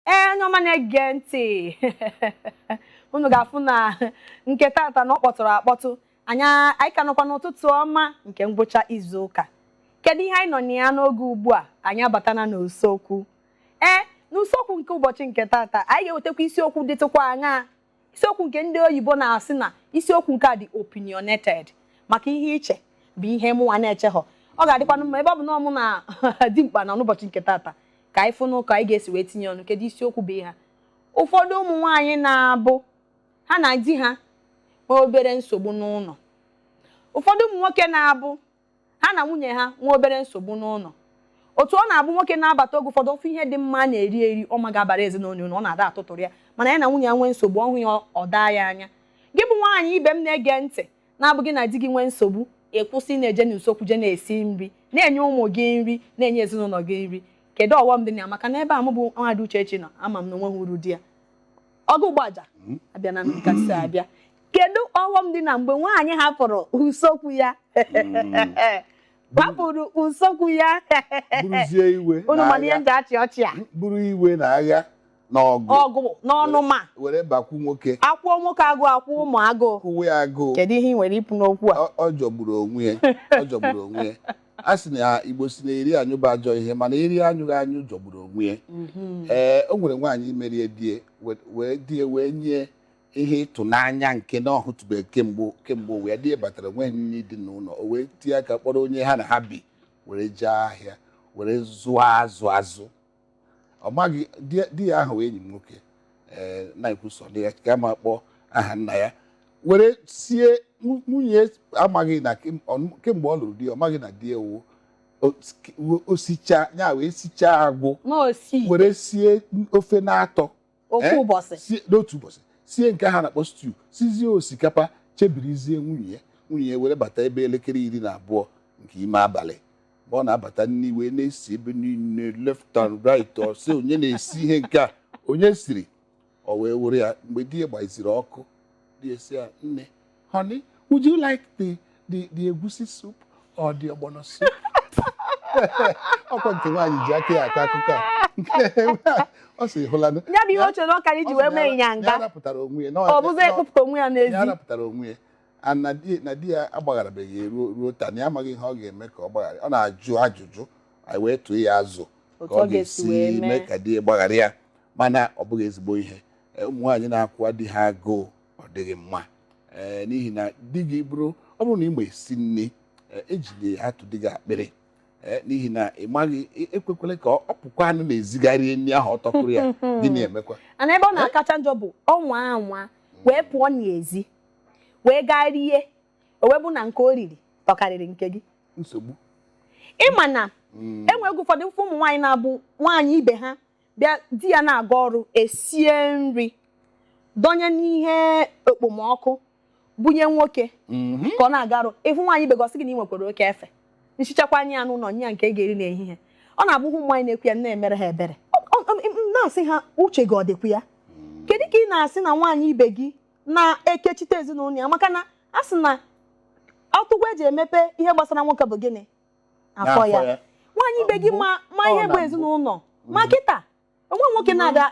ee onye ọma na-ege ntị unu ga-afụ na nke tata na ọ kpọtụrụ akpọtụ anyị anyị ka nọkwa n'ụtụtụ ọma nke ngwụcha izu ụka kedu ihe anyị nọ na ya n'oge ugbu a anyị abatana n'usekwu ee n'usekwu nke ụbọchị nke tata anyị ga-ewetakwa isiokwu dịtụkwa aṅaa isiokwu nke ndị oyibo na-asị na isiokwu nke a dị opinionated maka ihe i che bụ ihe mụnwa na-echeghọ ọ ga-adịkwanụ mma ebe ọ bụ na mụ na Dimkpa nọ n'ụbọchị nke tata ka anyị fụnụ ka anyị ga-esi wee tinye ọnụ kedu isiokwu bụ ihe a ụfọdụ ụmụ nwaanyị na-abụ ha na di ha nwee obere nsogbu n'ụlọ ụfọdụ ụmụ nwoke na-abụ ha na nwunye ha nwee obere nsogbu n'ụlọ otu ọ na-abụ nwoke na-abata oge ụfọdụ ọ fụ ihe dị mma a na-eri eri ọ ma ga-abara ezinụlọ uru ọ na-ada atụtụrụ ya mana ya na nwunye ya nwee nsogbu ọ hụ ya ọ daa ya anya gị bụ nwaanyị ibe m na-ege ntị na-abụ gị na di gị nwee nsogbu ị kwụsị na-eje n'usekwu je na-esi nri na-enye ụmụ gị nri na-enye ezinụlọ gị nri kedu ọghọm dị na ya maka na ebe a mụ bụ nwada Uchechi nọ ama m na o nweghị uru dị ya ọgụ gbaja hmm? abịa na nkasi abịa kedu ọghọm dị na mgbe nwaanyị hapụrụ usokwu ya hmm. hapụrụ usokwu ya buruzie iwe unu ma na ihe e ji achị ọchị a buru iwe na agha na ọgụ ọgụ na ọnụma were bakwu nwoke akwụọ nwoke agụụ akwụọ ụmụ agụụ kwụwe ya agụụ kedu ihe i nwere ikwu n'okwu a ọ jọgburu onwe ya ọ jọgburu onwe ya a sị na Igbo sị na eri anyụ bụ ajọ ihe mana eri anyụghị anyụ jọgburu onwe ya mhm. ee o nwere nwaanyị mere ya di ya wee di ya wee nye ihe ịtụnanya nke na ọ hụtụbeghị kemgbe kemgbe ụwa ya di ya batara o nweghị nri dị n'ụlọ o wee tinye aka kpọrọ onye ha na ha bi were jee ahịa were zụọ azụ azụ ọ maghị di ya ahụ enyi m nwoke eh, na-ekwusọ na ya ka ma kpọọ aha nna ya were sie nwunye ya amaghị na kemgbe ọ lụrụ di ọ maghị na di ya wụ osicha ya wee sichaa agwụ were sie ofe n'atọ ofu Eh? ụbọchị sie n'otu ụbọchị sie nke ha na-akpọ stew sizie osikapa chebirizie nwunye ya nwunye ya were bata ebe elekere iri na abụọ nke ime abalị mgbe ọ na-abata nri wee na-esi ebe niile left and right ọ sị onye na-esi ihe nke a onye siri o wee were ya mgbe di ya gbaziri ọkụ di ya sị ya nne honey would you like the the the egusi soup or the ogbono soup ọ kwa nke nwaanyị ji aka ya akọ akụkọ a ọ sị hụlanụ ya bụ ihe o chere ọ ga-eji wee mee ịnyanga rapụtara onwe ya ọ bụzi ịkpụpụta onwe ya n'ezi ya rapụtara onwe ya na di ya agbagharabeghị ya ruo ruo taa na ya amaghị ihe ọ ga-eme ka ọ gbaghara ọ na-ajụ ajụjụ anyị wee tụọ ya azụ ka ọ ga-esi mee ka di ya gbaghara ya mana ọ bụghị ezigbo ihe e, ụmụ nwaanyị na-akwụwa di ha agụụ ọ dịghị mma ee n'ihi na di gị bụrụ ọ bụrụ na ị ma esi nri ee, ejide atọ di gị akpịrị ee n'ihi na ị maghị e- ekwekwele ka ọ pụkwanụ n'ezi gaa rie nri ahụ ọ tọkụrụ ya gịnị emekwa and ebe ọ na-akacha njọ bụ ọ nwaa anwa wee pụọ n'ezi wee gaa rie o wee bụ na nke o riri tọkarịrị nke gị nsogbu ị ma na Mm, enwe oge ụfọdụ ụfụ ụmụ nwaanyị na-abụ nwaanyị ibe ha bịa di ya na-aga ọrụ esie nri dọnye n'ihe okpomọkụ bunye nwoke mhm. ka ọ na-aga ọrụ ị fụ nwaanyị ibe gị ọ sị gị na ị nwekwara oke efe i sichakwa nye ya n'ụlọ nye ya nke ọ ga-eri n'ehihie ọ na-abụ ụmụ nwaanyị na-ekwu ya na-emere ha ebere na-asị ha uche gị ọ dịkwa ya kedu ka ị na-asị na nwaanyị ibe gị na-ekechite ezinụlọ ya maka na a sị na ọtụgwa eji emepe ihe gbasara nwoke bụ gịnị afọ ya nwaanyị ibe gị ma ma ihe bụ ezinụlọ ma mm. kịta o nwe nwoke mm. na-ada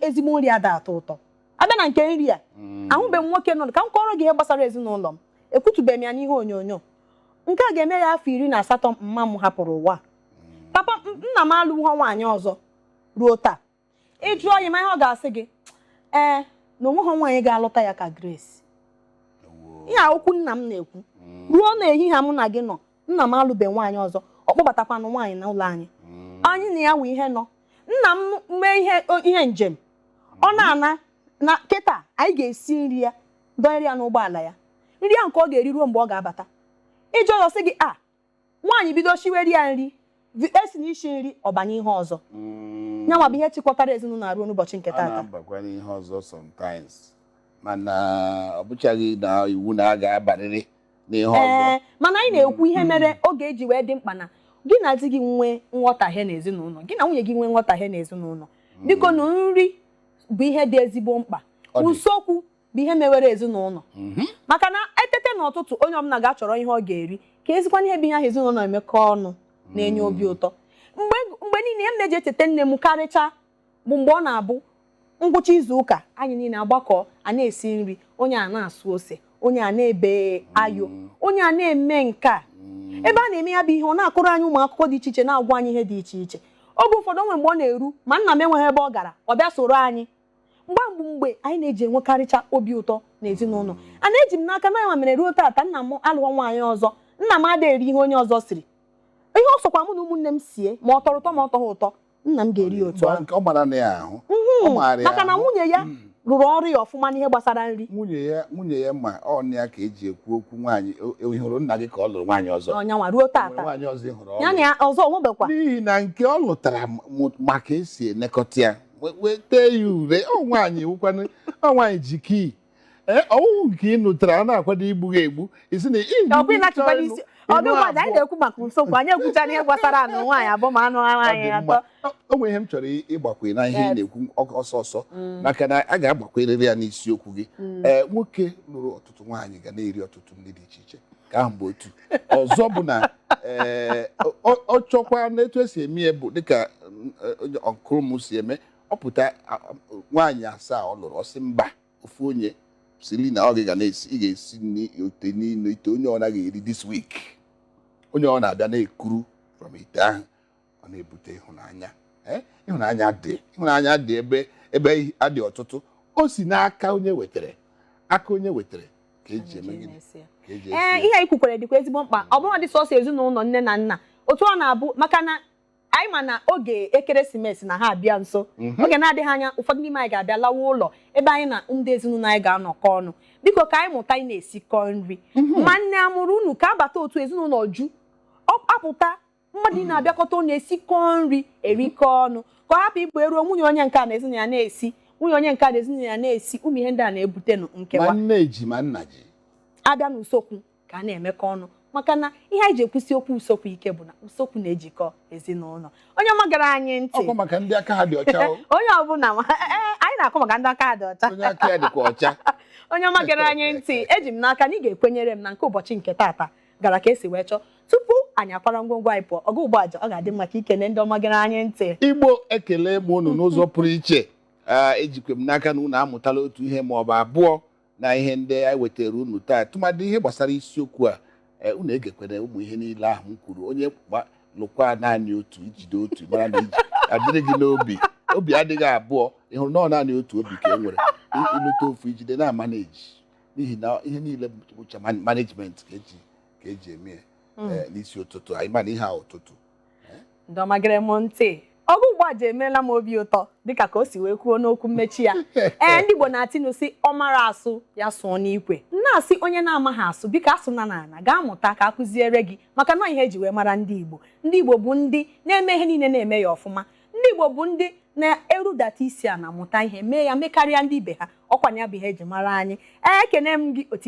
ezigbo nri ada atọ ụtọ a bịa na nke nri a mm. ahụbeghị m nwoke nọ ka m kọọrọ gị ihe gbasara ezinụlọ m ekwutubeghị m ya n'ihe onyonyo nke a ga-eme ya afọ iri na asatọ mma m hapụrụ ụwa papa nna m alụghọ nwaanyị ọzọ ruo taa ị jụọ ya ị ma ihe ọ ga-asị gị ee na onweghị nwaanyị ga-alụta ya ka Grace ihe a wụ okwu nna m na-ekwu mm. ruo na ehihie mụ na gị nọ nna m alụbe nwaanyị ọzọ ọ kpọbatakwanụ nwaanyị na ụlọ anyị mm. anyị na ya wụ ihe nọ nna m mee ihe njem ọ mm. na-ana na kịta anyị ga-esi nri ya dọnyere ya n'ụgbọala ya nri ya nke ọ ga-eri ruo mgbe ọ ga-abata ị jụọ ọ sị gị a ah, nwaanyị bido shiwere ya nri vi- esi na isi nri ọ banye ihe ọzọ Mm, nyanwa bụ ihe chịkọtara ezinụlọ a ruo n'ụbọchị nke taata ọ na-abakwa n'ihe ọzọ sometimes mana ọ bụchaghị na iwu na a ga-abarịrị n'ihe ọzọ ee mana anyị na-ekwu ihe mere ọ ga-eji wee dị mkpa na gị na di gị nwee nghọtahie n'ezinụlọ gị na nwunye gị nwee nghọtahie n'ezinụlọ bikonụ nri bụ ihe dị ezigbo mkpa Ọ dị. usekwu bụ ihe mewere ezinụlọ mhm. maka na e tete n'ụtụtụ onye ọbụla ga-achọrọ ihe ọ ga-eri ka ezikwana ihe bụ ihe ahụ ezinụlọ emekọ ọnụ na-enye mm. obi ụtọ mgbe niile m na-eji echeta nne m karịcha bụ mgbe ọ na-abụ ngwụcha izu ụka anyị niile agbakọ a na-esi nri onye a na-asụ ose onye a na-ebe ayo mm. onye a na-eme nke a mm. ebe a na-eme ya bụ ihe ọ na-akọrọ anyị ụmụ akụkọ dị iche iche na-agwa anyị ihe dị iche iche oge ụfọdụ o nwe mgbe ọ na-eru ma nna m enweghị ebe ọ gara ọ bịa soro anyị mgbe mgbe mgbe anyị na-eji enwekarịcha obi ụtọ n'ezinụlọ and eji m n'aka na nyanwa mere ruo taata nna m alụọ nwaanyị ọzọ nna m adịghị eri ihe onye ọzọ siri ihe ọ sọkwa mụ na ụmụnne m sie ma ọ tọrọ ụtọ ma ọ tọghị ụtọ nna m ga-eri ya otu ahụ ọ mara na ya ahụ ọ maara ya maka na ahụ. nwunye ya Mm. rụrụ ọrụ ya ọfụma n'ihe gbasara nri nwunye ya nwunye ya ma ọ na ya ka eji ekwu okwu nwaanyị o- o- ị hụrụ nna gị ka ọ lụrụ nwaanyị ọzọ na ọ nyanwa ruo O nwere taata nwaanyị ọzọ ị hụrụ ọ ya na lụrụ. ya ọzọ o nwebekwa n'ihi na nke ọ lụtara m- mụ- ma ka e si elekọta ya weta ya ure ọ nwaanyị wụkwanụ ọ nwaanyị ji key ee ọ wụrụ nke ị nụtara a na-akwado igbu gị egbu isi na ọkwa ịlachịkwa n'isi ọdụ ụbọchị anyị na-ekwu maka nsogbu anyị ekwuchana ihe gbasara anụ nwaanyị abụọ ma anụ nwaanyị atọ o nwere ihe m chọrọ ịgbakwe na ihe ị na-ekwu ọsọ ọsọ maka na a ga-agbakwerịrị ya n'isiokwu gị ee nwoke lụrụ ọtụtụ nwaanyị ga na-eri ọtụtụ nri dị iche iche nke ahụ bụ otu ọzọ bụ na ee, ọ- ọ ọ chọkwa n'etu esi eme ya bụ dịka uncle m si eme ọ pụta a- a- nwaanyị asaa ọ lụrụ ọ sị mba ofu onye sili na ọ gị ga na-esi ị ga-esi nri otu niile ite onye ọbụna ga-eri this week onye ọbụna abịa na-ekuru from ite ahụ ọ na-ebute ịhụnanya eh? ịhụnanya dị ịhụnanya dị ebe ebe adị ọtụtụ o si n'aka onye wetara aka onye wetara ka eji eme gịnị ka eji ee eh, ihe anyị kwukwara dịkwa ezigbo mkpa ọ bụrụ dị sọsọ ezinụlọ nne na nna otu ọ na-abụ maka na anyị ma na oge ekeresimesi na ha abịa nso mhm. oge na-adịghị anya ụfọdụ n'ime anyị ga-abịa lawa ụlọ ebe anyị na ndị ezinụlọ anyị ga-anọkọ ọnụ biko ka anyị mụta ị na-esikọ nri mhm. ma nne amụrụ unu ka abata otu ezinụlọ ju apụta mmadụ ị na-abịakọta ọnụ esikọ nri erikọ ọnụ ka ọ hapụ ịbụ eruo nwunye onye nke a na ezinụlọ ya na-esi nwunye onye nke a na ezinụlọ ya na-esi ụmụ ihe ndị a na-ebute nụ ma nkewa nne ji ma nna ji abịa n'usokwu ka a na-emekọ ọnụ maka na ihe anyị ji ekwusi okwu usokwu ike bụ na usokwu na-ejikọ ezinụlọ onye ọma gere anyị ntị ọkwa maka ndị aka ha dị ọcha o, onye ọbụla ma- eh, eh, anyị na-akọ maka ndị aka ha dị ọcha onye aka ya dịkwa ọcha onye ọma gere anyị ntị eji m n'aka na ị ga-ekwenyere m na nke ụbọchị nke taata gara ka esi wee chọọ tupu anyị akwara ngwongwo anyị pụọ Ogugbuaja ọ ga-adị mma ka i kene ndị ọma gere anyị ntị Igbo ekele m unu n'ụzọ pụrụ iche Ee, ejikwa m n'aka na unu amụtala otu ihe ma ọ bụ abụọ na ihe ndị anyị wetara unu taa tụmadị ihe gbasara isiokwu a ee, unu egekwere ụmụ ihe niile ahụ m kwuru onye gba- lụkwa naanị otu i jide otu mara na i ji adịrị gị n'obi obi adịghị abụọ ị hụrụ na ọ naanị otu obi ka e nwere I- ịlụta ofu i jide na-ama na eji n'ihi na ihe niile bụcha man- management ka eji ka eji eme ya Mm. eh, n'isi ụtụtụ anyị ma na ihe a ụtụtụ ndị ọma gere m ntị Ogugbuaja emeela m obi ụtọ dịka ka o si wee kwuo n'okwu mmechi ya ee ndị Igbo na-atụ inu sị ọ mara asụ ya sụọ n'ikwe na-asị onye na-amaghị asụ biko asụna n'ala gaa mụta ka a kụziere gị maka na ihe eji wee mara ndị Igbo ndị Igbo bụ ndị na-eme ihe niile na-eme ya ọfụma ndị Igbo bụ ndị na-erudata isi ana mụta ihe mee ya mekarịa ndị ibe ha ọkwanụ ya bụ ihe eji mara anyị ekene m gị otu